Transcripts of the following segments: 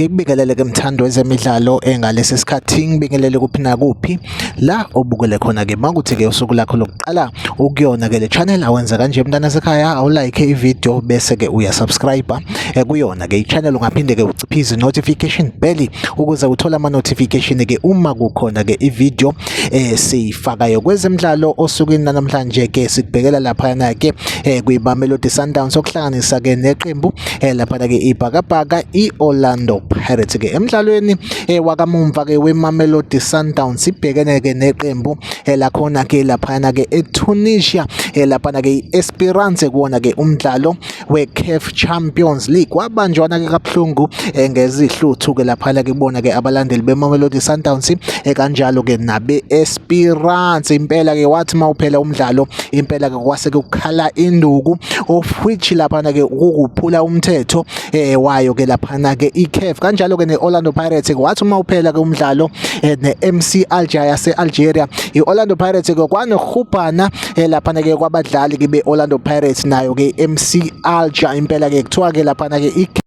ngikubingelele ke mthando wezemidlalo engalesi sikhathi ngibingelele kuphi nakuphi la obukele khona ke makuthi ke usuku lakho lokuqala ukuyona ke le channel awenza kanje mntana sekhaya awulike ivideo bese ke uyasubscribe eh, kuyona ke ichannel ungaphinde ke uciphize notification bell ukuze uthole ama notification ke uma kukhona ke ivideo eh siyifakayo kwezemidlalo osukwini namhlanje ke sikubhekela lapha yana ke eh kwiBamelodi Sundowns okuhlanganisa ke neqembu eh lapha ke ibhakabhaka iOrlando Pirates ke emidlalweni eh wakamumva ke weMamelodi Sundowns ibhekene ke neqembu eh lakhona ke lapha yana ke eTunisia eh lapha ke iEsperance kuona ke umdlalo weCAF Champions League wabanjwana-ke kabuhlungu eh, ngezihluthu-ke laphana ke kubona ke abalandeli beMamelodi Sundowns eh, kanjalo-ke nabe-Esperance impela-ke wathi uma uphela umdlalo impela-ke kwase kukhala induku of which laphana-ke ukukuphula umthetho eh, wayo-ke laphana-ke iCAF kanjalo-ke ne-Orlando Pirates-ke wathi uma uphela-ke umdlalo ne-MC Alger yase-Algeria i-Orlando Pirates-ke kwanohubhana eh, laphana ke kwabadlali ke be-orlando pirates nayo ke mc alger impela ke kuthiwa ke laphana ke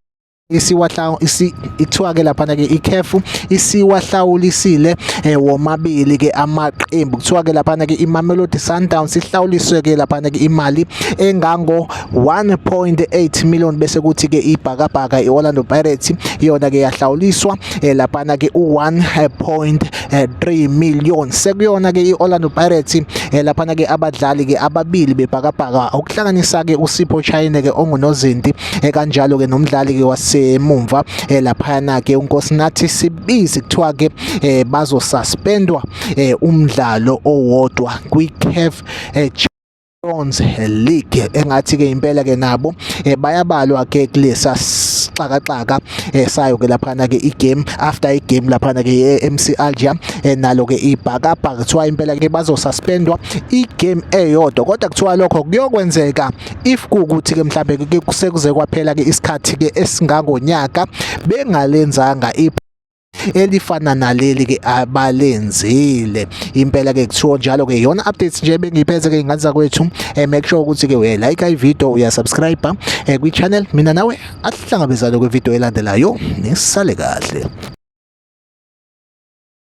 isiwahlawu isi ithiwa ke laphana ke ikhefu isiwahlawulisile eh, womabili ke amaqembu kuthiwa ke laphana ke iMamelodi Sundowns ihlawuliswe ke laphana ke imali engango 1.8 million bese kuthi ke ibhakabhaka iOrlando Pirates yona ke yahlawuliswa eh, laphana ke u 1. eh, 3 million sekuyona ke i-Orlando Pirates eh, laphana ke abadlali ke ababili bebhakabhaka okuhlanganisa ke uSipho Chayine ke ongunozinti eh, kanjalo ke nomdlali ke wasemumva eh, laphana ke uNkosinathi Sibisi kuthiwa ke eh, bazosuspendwa eh, umdlalo owodwa kwi-CAF eh, Stones League engathi ke impela ke nabo eh, bayabalwa ke kulesa sixakaxaka eh, sayo ke laphana ke igame after igame laphana ke ye-MC Alger eh, nalo ke ibhakabha kuthiwa impela ke bazosuspendwa igame eyodwa kodwa kuthiwa lokho kuyokwenzeka if kukuthi ke mhlambe ke kusekuze kwaphela ke isikhathi ke esingangonyaka bengalenzanga elifana naleli ke abalenzile impela ke kuthiwa njalo ke yona updates nje bengiphethe ke inganza kwethu eh, make sure ukuthi ke uye like i video uya subscribe eh, kwi channel mina nawe asihlangabezane kwi video elandelayo nisale kahle